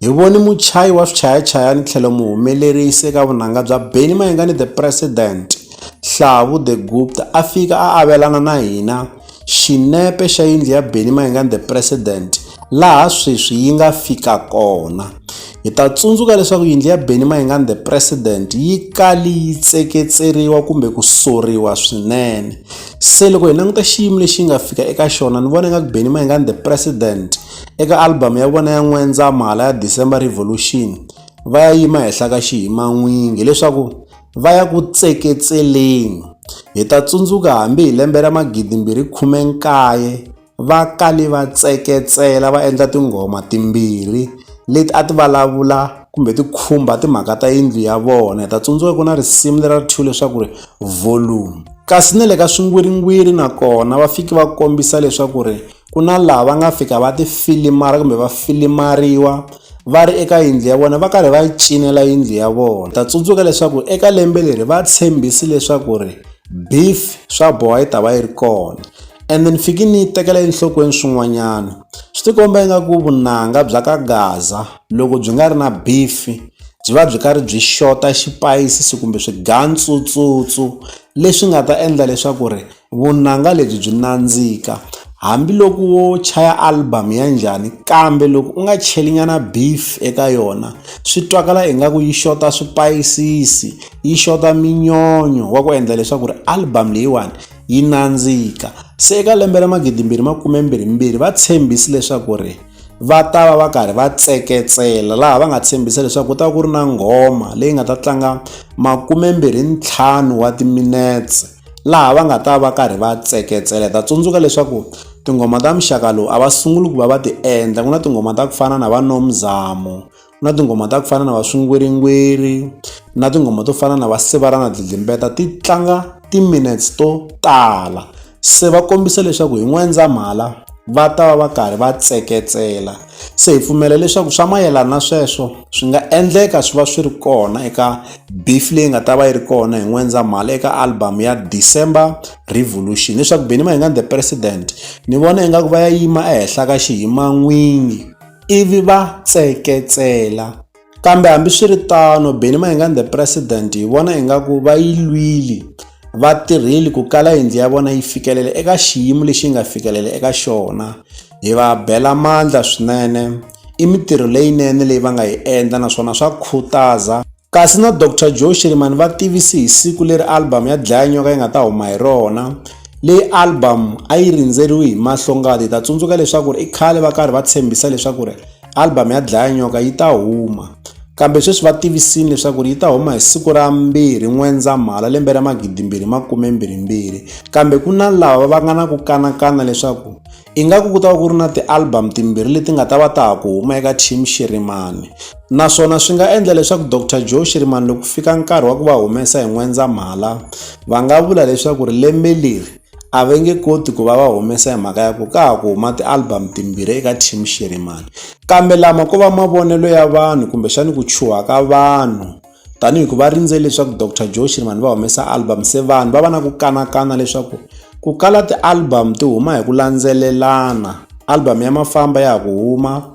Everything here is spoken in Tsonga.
Hi vone muchayi wa swichayachayani tlhelo muhumelerisi eka vunanga bya Benny Mayengani The President, Hlavu The Gupta a fika a avelana na hina xinepe xa yindlu ya Benny Mayengani The President laha sweswi yi nga fika kona. Hi ta tsundzuka leswaku yindlu ya Benny Mayengani The President yi kali yi tseketseriwa kumbe ku soriwa swinene. Se loko hi languta xiyimo lexi yi nga fika eka xona ni vona nga ku Benny Mayengani The President Eka album ya vona ya N'wendzamhala ya December Revolution, va ya yima henhla ka xihiman'wingi leswaku va ya ku tseketseleni. Hi ta tsundzuka hambi hi lembe ra 2019 va kale va tseketsela va endla tinghoma timbirhi leti a ti vulavula kumbe ti khumba timhaka ta yindlu ya vona. Hi ta tsundzuka ku na risimu lera ri thyiwe leswaku ri Volume. Kasi na le ka swingwiringwiri nakona va fike va kombisa leswaku ri ku na laha va nga fika va ti filimara kumbe va filimariwa va ri eka yindlu ya vona va karhi va yi cinela yindlu ya vona ta tsundzuka leswaku eka lembe leri va tshembisi leswaku ri beef swa boha yi ta va yi ri kona and then fiki ni yi tekela enhlokweni swin'wanyana swi tikomba ingaku vunanga bya ka gaza loko byi nga ri na beef byi va byi karhi byi xota xipayisisi kumbe swigantsutsutsutsu leswi nga ta endla leswaku ri Vunanga lebyi byi nandzika. Hambi loko wo chaya album ya njhani kambe loko u nga cheli nyana beef eka yona swi twakala ingaku yi xota swipayisisi yi xota minyonyo wa ku endla leswaku ri album leyiwani yi nandzika se eka lembe ra magidi mbirhi makume mbirhi mbirhi va tshembisi leswaku ri va ta va va karhi va tseketsela laha va nga tshembisa leswaku ku ta va ku ri na nghoma leyi nga ta tlanga makume mbirhi ntlhanu wa timinetse. laha va nga ta va karhi va tseketsela hi ta tsundzuka leswaku tinghoma ta muxaka lowu a va sunguli ku va va ti endla ku na tinghoma ta ku fana na va nomzamo ku na tinghoma ta ku fana na va swingwiringwiri na tinghoma to fana na va sivalana dlidlimbeta ti tlanga timinutes to tala se va kombisa leswaku hi n'wendzamhala va ta va va karhi va tseketsela. Se hi pfumela leswaku swa mayelana na sweswo swi nga endleka swi va swi ri kona eka beef leyi nga ta va yi ri kona hi N'wendzamhala eka album ya December Revolution leswaku Benny Mayengani The President ni vona ingaku va ya yima ehenhla ka xihiman'winyi ivi va tseketsela. Kambe hambiswiritano, Benny Mayengani the President hi vona ingaku va yi lwile vatirheli ku kala yindlu ya vona yi fikelela eka xiyimo lexi yi nga fikelela eka xona hi va bela mandla swinene i mitirho leyinene leyi va nga yi endla naswona swa khutaza kasi na dr joe shirimani va tivise hi siku leri album ya dlaya nyoka yi nga ta huma hi rona leyi album a yi rindzeriwi hi mahlongati hi ta tsundzuka leswaku ri i khale va karhi va tshembisa leswaku ri album ya dlaya nyoka yi ta huma kambe sweswi va tivisile leswaku yi ta huma hi siku ra mbirhi n'wendzamhala lembe ra magidimbirhi makume mbirhimbirhi kambe ku na lava va nga na ku kanakana leswaku ingaku ku ta va ku ri na ti-album timbirhi leti nga ta va ta ha ku huma eka team xirimani naswona swi nga endla leswaku dr joe xirimani loko fika nkarhi wa ku va humesa hi n'wendzamhala va nga vula leswaku ri lembe leri a va nge koti ku va va humesa hi mhaka ya ku ka ha ku huma ti-album timbirhi eka team Xirhemani kambe lama ko va mavonelo ya vanhu kumbexani ku chuha ka vanhu tanihi ku va rindzele leswaku Doctor Joe Shirimani va humesa album se vanhu va va na ku kanakana leswaku ku kala ti-album ti huma hi ku landzelelana album ya mafamba ya ha ku huma.